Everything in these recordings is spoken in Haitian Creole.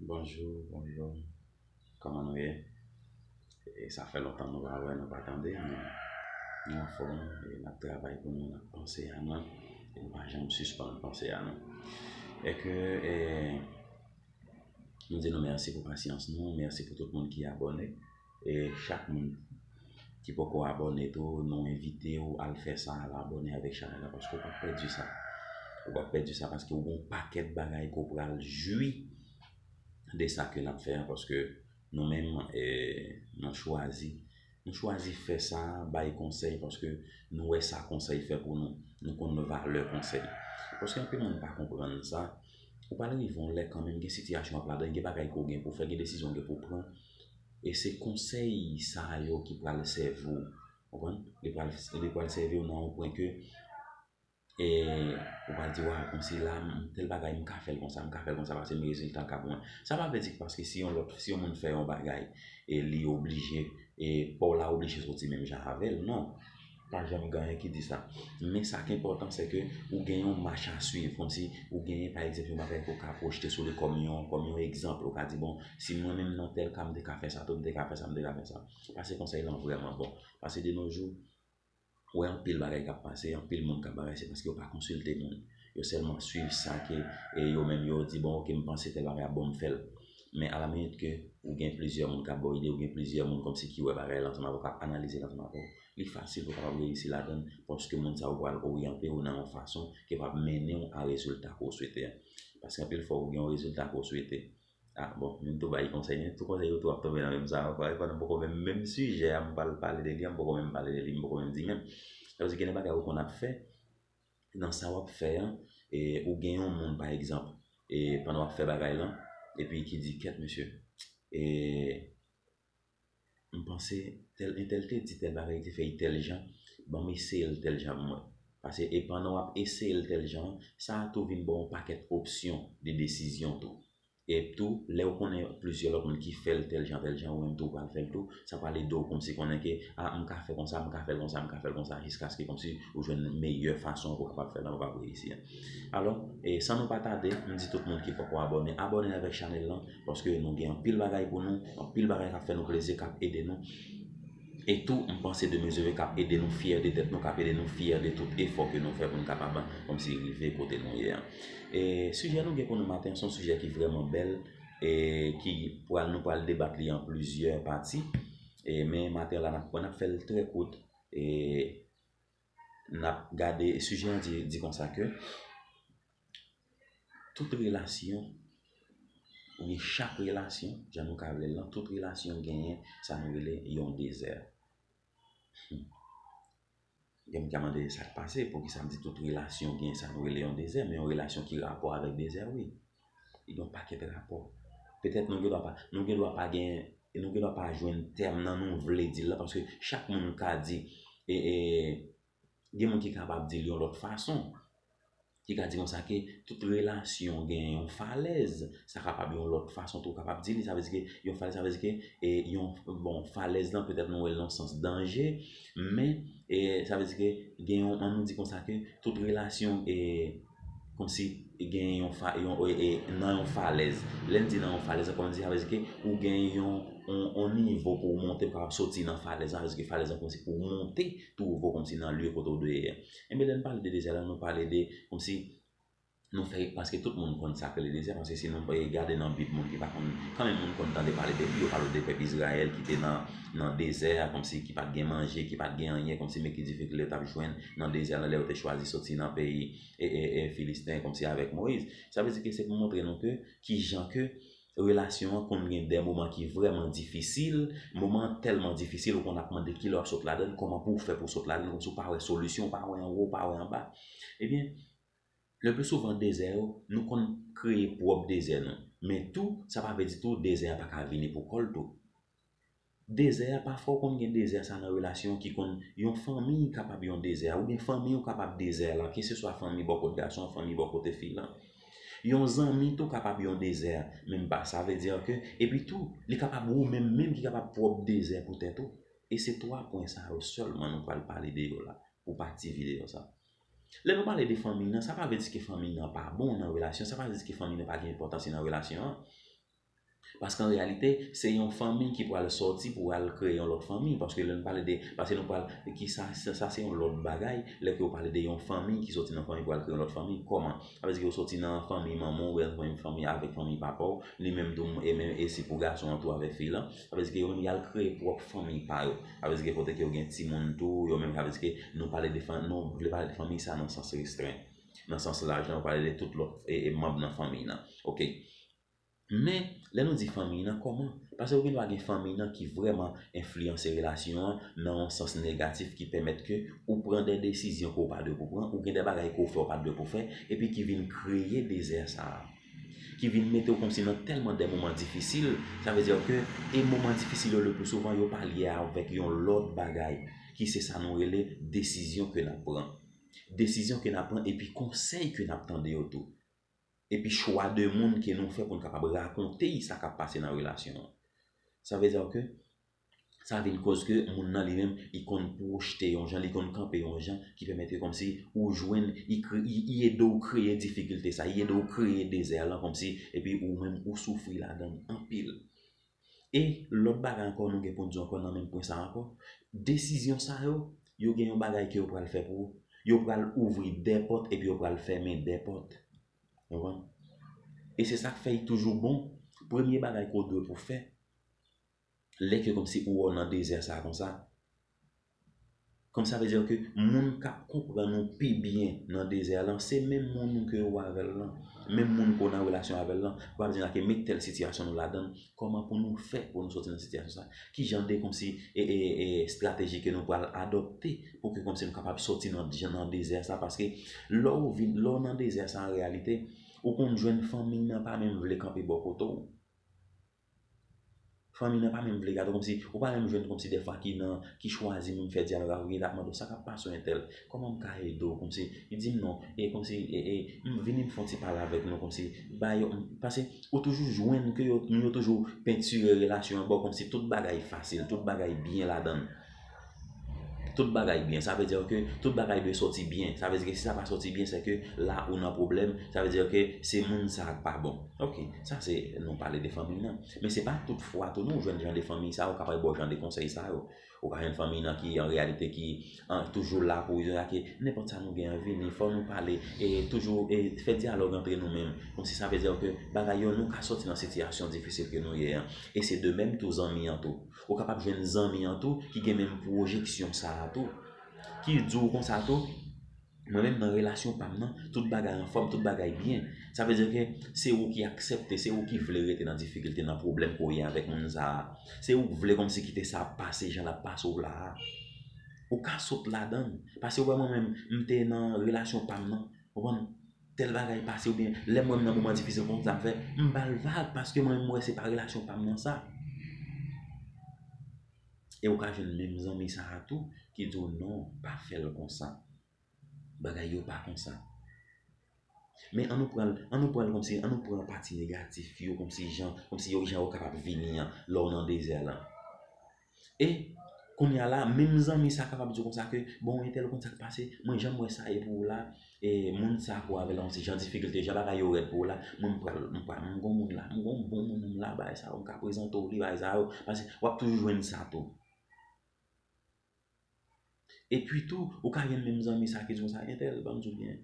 Bonjou bonjou kòman nou ye e sa fè lontan nou pa wè nou pa tande men nou anfòm e nap travay pou nou nap panse a nou e nou pa janm sispann panse a nou e ke e nou di nou mèsi pou pasyans nou mèsi pou tout moun ki abòne E chak moun ki poko abone tou nou envite ou al fè sa al abone avèk chanèl la paske ou pap pèdi sa ou pap pèdi sa paske ou gon pakèt bagay ke w pral jwi de sa ke nap fè an paske nou menm nou chwazi nou chwazi fè sa bay konsèy paske nou wè sa konsèy fè pou nou nou konn valè konsèy paske anpil moun pa konprann sa ou pral rive yon lè kanmenm gen sitiyasyon wap ladan gen bagay ke w gen pou w fè gen desizyon w gen pou w pran e se konsèy sa yo ki pral sèvi w, ou konprann, li pral li pral sèvi w nan yon pwen ke e ou pral di waw kòmsi la m tèl bagay m ka fè l konsa m ka fè l konsa paske m rezilta l ka bon sa pa vle di paske si yon lòt si yon moun fè yon bagay e li oblije e pa w la oblije soti menm jan avè l non. Pa janm gen anyen ki di sa. Men sa k enpòtan se ke ou gen yon mach a swiv. Kòmsi ou genyen pa egzanp yon bagay ke w ka pwojte sou li kòm yon kòm yon egzanp. Ou ka di bon si mwen menm nan tèl ka m te ka fè sa tou, m te ka fè sa, m te ka fè sa. Pase konsèy lan vrèman bon. Pase de no jou, ou wè anpil bagay k ap pase, anpil moun k ap bagay se paske yo pa konsilte moun. Yo sèlman swiv sa ke e yo menm yo di bon ok m panse tèl bagay ap bon m fè l. Men a la minit ke ou gen plizyè moun k ap ba w ide, ou gen plizyè moun kòmsi ki wè bagay lan ansanm avè w, k ap analize l ansanm avè w. Li fasil pou w kapab reyisi ladan l, paske moun sa yo pral oryante w nan yon fason ki va mennen w a rezilta ke w swete a. Paske anpil fwa ou gen yon rezilta ke w swete, a bon, moun tou bay konsèy, men tou konsèy yo tou ap tonbe nan menm sa ankò, epi m poko menm, menm sijè a m pral pale de li a m poko menm pale de li, m poko menm di menm. Sa vle di gen de bagay ou konn ap fè, nan sa w ap fè an, e ou gen yon moun pa egzanp, e pandan w ap fè bagay lan, epi ki di kèt mesye, e Mpanse tèl entèl te di tèl bagay te fèy tèl jan banm eseyel tèl jan mwen pase e pandan wap eseyel tèl jan sa a tou vin baw yon pakèt opsyon de desizyon tou ep tou lèw konnen plizyè lòt moun ki fèl tèl jan tèl jan ou menm tou pral fèl tou sa pral edew kòmsi konnen ke a mka fè konsa mka fèl konsa mka fèl konsa jiskaske kòmsi ou jwenn meyè fason pou kapab fèl lan ou kapab reyisi an. Alò, e san nou pa tade, m di tout moun ki poko abòne, abòne avèk chanèl lan, paske nou gen anpil bagay pou nou, anpil bagay k ap fè nou plezi, k ap ede nou. E tou, m panse de mezire k ap ede nou fyè de tèt nou, k ap ede nou fyè de tout efò ke nou fè pou nou kapab kòmsi rive kote nou ye an. E sijè nou gen pou nou maten an, se yon sijè ki vrèman bèl, e ki pral nou pral debat li an plizyè pati, e men maten an la n ap pran, n ap fè l trè kout, e. n ap gade, sijè an di konsa ke tout relasyon oubyen chak relasyon, jan nou ka rele l lan, tout relasyon genyen sa nou rele yon dezè. Gen moun ki ap mande sa k pase, poukisa m di tout relasyon genyen sa nou rele yon dezè, men yon relasyon ki rapò avèk dezè wi. yon pakèt rapò. Petèt nou gendwa pa, nou gendwa pa gen, nou gendwa pa jwenn tèm nan nou vle di l la paske chak moun ka di e, e, gen moun ki kapab di l yon lòt fason, ki ka di konsa ke tout relasyon gen yon falèz, sa kapab yon lòt fason tou kapab di li, sa vle di ke yon falèz, sa vle di ke e yon, bon, falèz lan petèt nou wè l nan sans danje, men, e, sa vle di ke gen yon, an nou di konsa ke tout relasyon e. Kòmsi gen yon fa, yon e, nan yon falèz. Lè n di nan yon falèz la, kòmsi sa vle di ke ou gen yon, yon, yon nivo pou w monte, ou kapab soti nan falèz la, sa vle di ke falèz la kòmsi pou w monte tou wo kòmsi nan lye kote w dwe ye a. Enben lè n pale de dezè la, nou pale de kòmsi nou fè, paske tout moun konn sa k rele dezè, paske si nou e gade nan bib moun ki pa konn, kanmenm moun konn tande pale de yo pale de pèp Izrayèl ki te nan, nan dezè a kòmsi ki pa t gen manje, ki pa t gen anyen, kòmsi men ki difikilte yo t ap jwenn. nan dezè la lè yo te chwazi soti nan peyi Filisten kòmsi avèk Moyiz. Sa vle di ke se pou montre nou ke kijan ke relasyon an konn gen dè moman ki vrèman difisil, moman an tèlman difisil ou konn ap mande kilè w ap sot ladann, kòman pou w fè pou w sot ladann kòmsi w pa wè solisyon, w pa wè anwo, w pa wè anba. Ebyen, le pli souvan dezè yo, nou konn kreye pwòp dezè nou. Men tou, sa pa vle di tou dezè a pa ka vini pou kò l tou. Dezè a pafwa ou konn gen dezè sa nan relasyon ki konn yon fanmi kapab yon dezè a oubyen fanmi ou kapab dezè la keseswa fanmi bò kot gason fanmi bò kote fi lan yon zanmi tou kapab yon dezè a menm ba sa vle dire ke epi tou li kapab ou menm menm ki kapab pwòp dezè pou tèt ou e se 3 pwen sa yo sèlman nou pral pale de yo la pou pati videyo sa lè nou pale de fanmi nan sa pa vle di ke fanmi nan pa bon nan relasyon sa pa vle di ke fanmi nan pa gen enpòtans li nan relasyon an Paske an reyalite, se yon fanmi ki pral sòti pou al kreye yon lòt fanmi. Paske lè nou pale de, paske nou pral, ki sa, sa se yon lòt bagay, lè ke yo pale de yon fanmi ki sòti nan fanmi pou al kreye yon lòt fanmi, kòman? Sa vle di ke ou sòti nan fanmi manman ou, oubyen nan fanmi, fanmi, avèk fanmi papa ou, li menm tou, e menm, e si pou gason an tou avèk fi lan, sa vle di ke yo menm yal kreye pwòp fanmi pa yo. Sa vle di ke kote ke yo gen timoun tou, yo menm, sa vle di ke nou pale de fanm, nou vle pale de fanmi sa nan sans restren. Nan sans laj la, nou pale de tout lòt e, e manb nan fanmi nan. Ok. Men, lè nou di fanmiy nan, kòman? Pase ou gen dwa gen fanmiy nan ki vrèman enfliyanse relasyon an nan yon sans negatif ki pèmèt ke ou pran de desizyon ke ou pa dwe pou pran, ou gen de bagay ke ou fè ou pat dwe pou fè, epi ki vin kreye dezè sa a. Ki vin mete ou kòmsi nan tèlman de moman difisil, sa vle dire ke, e moman difisil yo le pli souvan yo pa lye avèk yon lòt bagay, ki se sa nou rele desizyon ke nap pran. Desizyon ke nap pran epi konsèy ke nap tande yo tou. epi chwa de moun ke nou fè pou n kapab rakonte sa k ap pase nan relasyon an. Sa vle dire ke sa vin koz ke moun nan li menm li konn pwojte yon jan, li konn kanpe yon jan ki pèmèt ke kòmsi ou jwenn, li ede w kreye difikilte sa, li ede w kreye dezè lan kòmsi epi ou menm ou soufri ladan l anpil. E lòt bagay ankò nou gen pou n di w ankò nan menm pwen sa a ankò, desizyon sa yo, yo gen yon bagay ke yo pral fè pou ou, yo pral ouvri de pòt epi yo pral fèmen de pòt. Ou konprann? E se sa k fè li toujou bon, premye bagay ke w dwe pou w fè, lè ke kòmsi ou wè w nan dezè sa a konsa, Kòm sa vle dire ke moun kap konprann ou pi byen nan dezè lan se menm moun ou ke ou avè l lan, menm moun ke w nan relasyon avè l lan, pou ap di la ke men tèl sitiyasyon nou ladan l, kòman pou nou fè pou nou soti nan sitiyasyon sa? Ki jan de kòmsi estrateji ke nou pral adòpte pou ke kòmsi nou kapab soti nan dezè sa? Paske lè ou vin, lè w nan dezè sa an reyalite, ou konn jwenn fanmi nan pa menm vle kanpe bò kote w. Fanmi nan pa menm vle gade w kòmsi ou pa menm jwenn kòmsi dèfwa ki nan ki chwazi menm fè dyalòg avèk li lap mande w sa kap pase w entèl kòman m ka ede w kòmsi li di m non e kòmsi e m vini m fè yon ti pale avèk nou kòmsi ba yo pase ou toujou jwenn ke yo moun yo toujou pentire relasyon an ba w kòmsi tout bagay fasil tout bagay byen ladan l. Tout bagay byen, sa vle dire ke tout bagay dwe soti byen. Sa vle dire ke si sa pa soti byen, se ke la ou nan pwoblèm. Sa vle dire ke se moun sa a ki pa bon. Ok, sa se nou pale de fanmi nan. Men se pa tout fwa tou nou jwenn jan de fanmi sa yo kapab ba w jan de konsèy sa yo. Ou ka jwenn fanmi nan ki an reyalite ki toujou la pou yo lage nenpòt sa nou gen an vini, fò nou pale e toujou e fè dyalòg antre nou menm. Kon si sa vle dire ke bagay yo nou ka soti nan sitiyasyon difisil ke nou ye an. E se de menm tou zanmi an tou. Ou kapab jwenn zanmi an tou ki gen menm pwojeksyon sa a tou. Ki di w konsa tou, mwen menm nan relasyon pa m nan, tout bagay anfòm, tout bagay byen. Sa vle di ke se ou ki aksepte, se ou ki vle rete nan difikilte, nan pwoblèm ke w ye avèk moun sa a. Se ou ki vle kòmsi kite sa ap pase jan l ap pase w la a. Ou ka sot ladan l. Pase ou wè mwen menm, m te nan relasyon pa m nan. Ou konprann? Tèl bagay pase oubyen lè mwen menm nan moman difisil konsa sa m fè m ba l vag paske mwen menm m wè se pa relasyon pa m nan sa e ou ka jwenn menm zanmi sa a tou ki di w non pa fè l konsa bagay yo pa konsa men an nou pran l an nou pran l kòmsi an nou pran pati negatif yo kòmsi jan kòmsi yo jan yo kapab vini an lè w nan dezè lan. E Kounya la menm zanmi sa kapab diw konsa ke bon entèl ou konn sak pase mwen janm wè sa ye pou ou la e moun sa pou avèl yon ti jan difikilte jan bagay yo rèd pou ou la mwen m pral m pral m gon moun la m gon bon moun m la bay sa yo m ka prezante w li bay sa yo paske wap toujou jwenn sa tou. Epi tou, ou ka gen menm zanmi sa ki di konsa, entèl banm di w byen,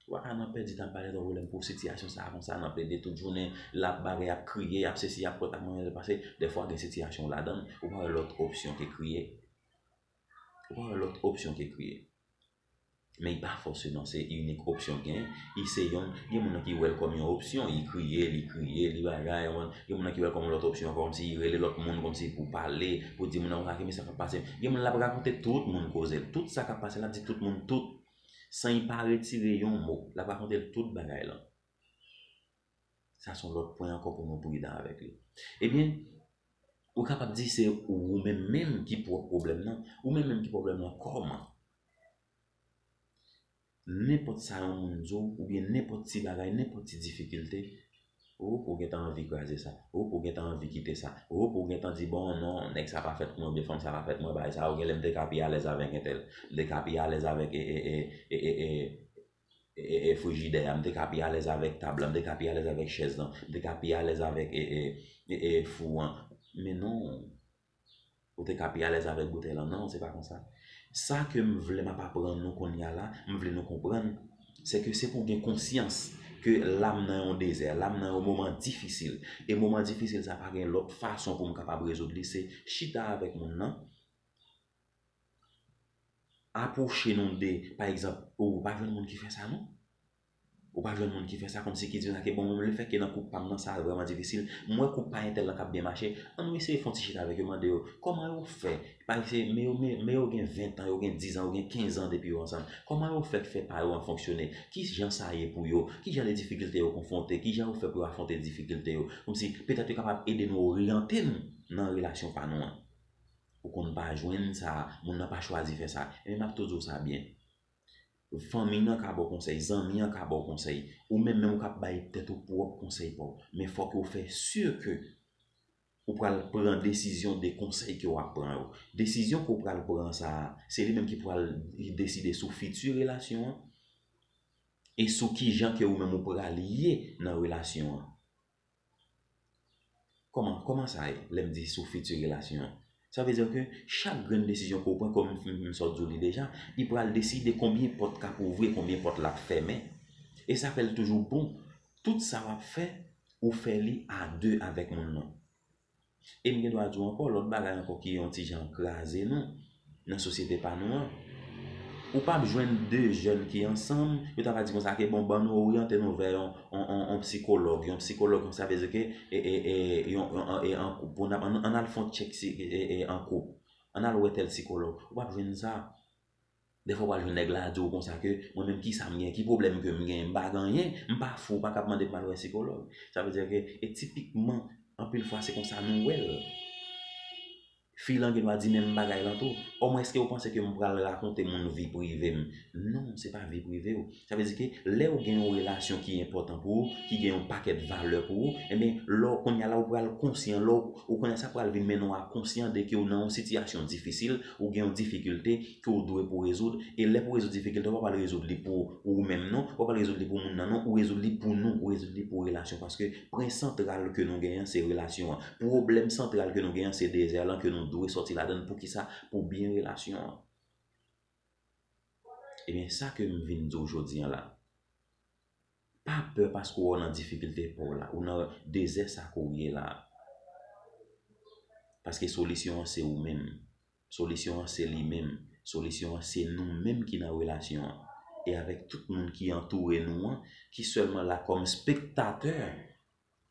ou pa ka nan pèdi tan ap pale twò volè pou sitiyasyon sa konsa nan plede tout jounen, lap bagay ap kriye, ap sesi ap pot ap manyenl pase, dèfwa gen sitiyasyon w ladann, ou pa wè lòt opsyon ke kriye. Ou pa wè lòt opsyon ke kriye. Men y pa fòseman se inik opsyon w gen, y se yon, gen moun ki wè l kòm yon opsyon, y kriye, li kriye, li bagay, ou konprann, gen moun ki wè l kòm yon lòt opsyon ankò, kòmsi y rele lòt moun, kòmsi pou pale, pou di moun nan, gade men sa k ap pase, gen moun l ap rakonte tout moun koze l, tout sa k ap pase l ap di tout moun tout, san y pa retire yon mo, l ap rakonte l tout bagay lan. Sa s on lòt pwen ankò pou nou pridan avèk li. Ebyen, ou kapab di se ou menm menm ki pwòp pwoblèm nan, ou menm menm ki pwoblèm nan kòman? Nenpòt sa yon moun di w oubyen nenpòt ti bagay, nenpòt ti difikilte, oop ou gentan anvi kraze sa, oop ou gentan anvi kite sa, oop ou gentan di bon non nèg sa pa fèt pou mwen oubyen fanm sa pa fèt pou mwen bagay sa yo genlè m te ka pi alèz avèk entèl, m te ka pi alèz avèk ee frijidè a, m te ka pi alèz avèk tab la, m te ka pi alèz avèk chèz lan, m te ka pi alèz avèk ee fou an men non Ou te ka pi alèz avèk boutèy lan non, se pa konsa. Sa ke m vle m ap aprann nou konnya la, m vle nou konprann, se ke se pou w gen konsyans ke la m nan yon dezè, la m nan yon moman difisil. E moman difisil sa pa gen lòt fason pou m kapab rezoud li, se chita avèk moun nan, apwoche nou de, pa egzanp, ou pa jwenn moun ki fè sa non. Ou pa jwenn moun ki fè sa kòmsi ki di sa ki bon pou li fè ke nan koup pam nan sa vrèman difisil, m wè koup pa entèl lan kap byen mache, an nou eseye fon ti chita avèk yo mande yo kòman yo fè pa eseye men yo men men yo gen 20 tan yo gen 10 an yo gen 15 an depi yo ansanm kòman yo fè k fè pa yo an fonksyone ki jan sa ye pou yo ki jan de difikilte yo konfwonte ki jan yo fè pou yo afwonte difikilte yo kòmsi petèt yo kapab ede nou oryante n nan relasyon pa nou an ou konn pa jwenn sa moun nan pa chwazi fè sa ebyen map tou di w sa byen. Fanmi nan ka ba w konsèy, zanmi an ka ba w konsèy, ou menm menm ou ka bay tèt ou pwòp konsèy pa w. Men fòk ou fè si ke ou pral pran desizyon de konsèy ke w ap pran yo. Desizyon ke w pral pran sa a, se li menm ki pral deside sou fiti relasyon an e sou kijan ke ou menm ou pral ye nan relasyon an. Kòman, kòman sa ye lè m di sou fiti relasyon an? Sa vle di ke chak grenn desizyon ke w pran, kòm m sa w di w li deja, li pral deside konbyen pòt k ap ouvri e konbyen pòt l ap fèmen. E sa fè l toujou bon, tout sa w ap fè, ou fè li a de avèk moun nan. E m gen dwa di w ankò lòt bagay ankò ki yon ti jan kraze nou nan sosyete pa nou an. Ou p ap jwenn de jèn ki ansanm, yo ta va di konsa ke bon ban nou oryante nou vè yon yon psikològ, yon psikològ sa vle di ke e e e yon e an koup pou n ap ann al fè yon tchèk si e e an koup, ann al wè tèl psikològ. Ou p ap jwenn sa. Dèfwa w'al jwenn nèg la di ou konsa ke mwen menm kisa m gen, ki pwoblèm ke m gen, m pa gen anyen, m pa fou, m pa kab mande pou m'al wè sikològ. Sa vle di ke e tipikman anpil fwa se konsa nou wè l. Fi lan gendwa di menm bagay lan tou. Ò mwen eske ou panse ke m pral rakonte moun vi prive m? Non, se pa vi prive ou. Sa vle di ke lè ou gen yon relasyon ki enpòtan pou ou, ki gen yon pakèt valè pou ou, enben lè w kounye a la ou pral konsyan, lè w kounye a sa pral vin mennen w a konsyan de ke ou nan yon sitiyasyon difisil, ou gen yon difikilte ke ou dwe pou rezoud, e lè pou rezoud difikilte ou pa pral rezoud li pou ou menm non, ou pa pral rezoud li pou moun nan non, ou rezoud li pou nou, ou rezoud li pou relasyon paske pwen santral ke nou gen an se relasyon an. Pwoblèm santral ke nou gen an se dezè lan ke nou dwe sòti ladan l, poukisa, pou byen relasyon an. Ebyen sa ke m vin di w jodi an la, pa pè paske wè w nan difikilte pa w la, ou nan dezè sa ke w ye la. Paske solisyon an se ou menm, solisyon an se li menm, solisyon an se nou menm ki nan relasyon an. E avèk tout moun ki antoure nou an, ki sèlman la kòm spektatè.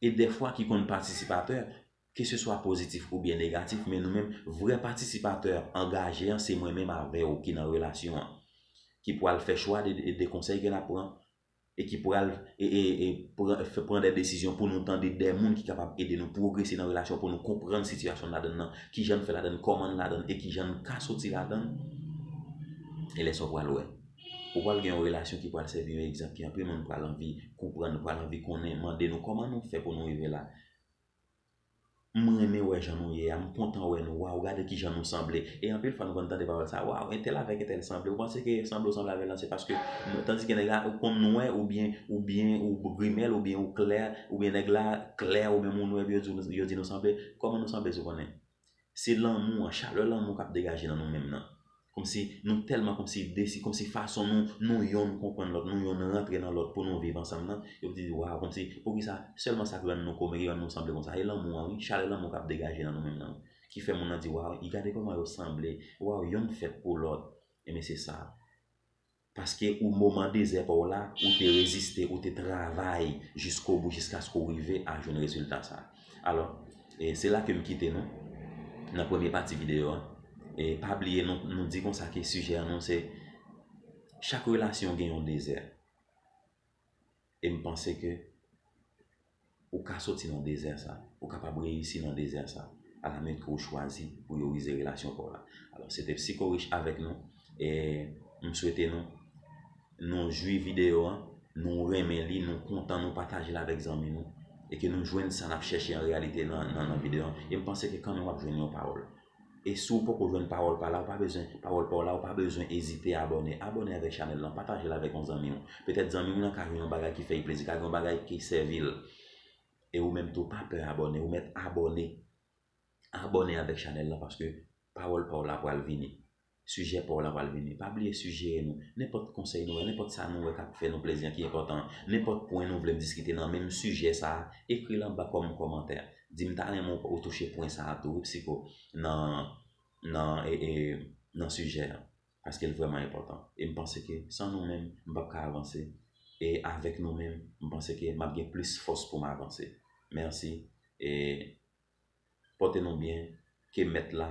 e dèfwa ki konn patisipatè, keseswa pozitif oubyen negatif, men nou menm, vrè patisipatè angaje an se mwen menm avè w ki nan relasyon an, ki pral fè chwa de konsèy ke n ap pran e ki pral pran de desizyon pou nou tande de moun ki kapab ede nou pwogrese nan relasyon an, pou nou konprann sitiyasyon n ladann nan, kijan n fè ladann, kòman n ladann e kijan n ka soti ladann, e lè sa w pral wè. Ou pral gen yon relasyon ki pral sèvi yon egzanp ki anpil moun pral anvi konprann, pral anvi konnen, mande nou kòman nou fè pou nou rive la. M renmen wè jan nou ye a, m kontan wè nou, waw gade kijan nou sanble. E anpil fwa nou konn tande pawòl sa, waw entèl avèk entèl sanble, ou panse ke sanble ou sanble avèl lan se paske tandiske nèg la konn nwè oubyen oubyen ou grimèl oubyen ou klè oubyen nèg la klè ou menm ou nwè epi yo di nou sanble, kòman nou sanble si w konnen? Se lanmou an, chalè lanmou kap degaje nan nou menm nan. Komsi nou tèlman komsi desi, komsi fason nou, nou yonn konprann lòt, nou yonn rantre nan lòt pou nou viv ansanm nan, yo di waw komsi poukisa sèlman sak rann nou komen ki rann nou sanble konsa. E lanmou an wi, chalè lanmou kap degaje nan nou menm nan ki fè moun nan di waw, gade kòman yo sanble, waw yonn fèt pou lòt. Ebyen se sa. Paske ou moman dezè pa w la, ou te reziste, ou te travay jiskobou jiskaske w rive a jwenn rezilta sa. Alò, e se la ke m kite nou, nan premye pati videyo a. E pa bliye nou, nou di konsa ke sijè nou se, chak relasyon gen yon dezè. E m panse ke ou ka soti nan dezè sa, ou kapab reyisi nan dezè sa, alamèt ke ou chwazi pou yo rize relasyon pa w la. Alò, se te Psikorich avèk nou, e m swete nou, nou jwi videyo an, nou renmen li, nou kontan, nou pataje l avèk zanmi nou, e ke nou jwenn sa n ap chèche an reyalite nan videyo an. E m panse ke kanmenm w ap jwenn yon pawòl. E si w poko jwenn pawòl pa la ou pa bezwen pawòl pa w la ou pa bezwen ezite abòne abòne avèk chanèl lan pataje l avèk yon zanmi w petèt zanmi w lan ka jwenn yon bagay ki fè l plezi ka gen yon bagay ki sèvi l e ou menm tou pa pè abòne ou mèt abòne abòne avèk chanèl lan paske pawòl pa w la pral vini. Sijè pa w la pral vini. Pa bliye sijeye nou. Nenpòt konsèy nou wè, nenpòt sa nou wè k ap fè nou plezi an ki enpòtan an, nenpòt pwen nou vle m diskite nan menm sijè sa a, ekri l anba kòm kòmantè. Di m ta renmen ou touche pwen sa a tou wi Psycho nan nan e nan sijè an. Paske l vrèman enpòtan. E m panse ke san nou menm, m p ap ka avanse. E avèk nou menm, m panse ke m ap gen plis fòs pou m avanse. Mèsi e. Pòte nou byen, ke Mèt la,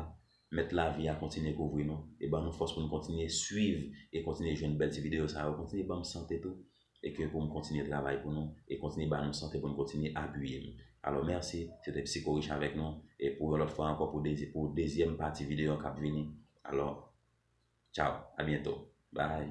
Mèt lavi a kontinye kouvri nou e ban nou fòs pou nou kontinye swiv e kontinye jwenn bèl ti videyo sa yo, kontinye banm sante tou e ke poum kontinye travay pou nou e kontinye ba nou sante pou nou kontinye apiyem. Alò mèsi, se te Psycho Rich avèk nou e pou yon lòt fwa ankò pou dezi pou dezyèm pati videyo an kap vini. Alò, tchao, a byento. Bye.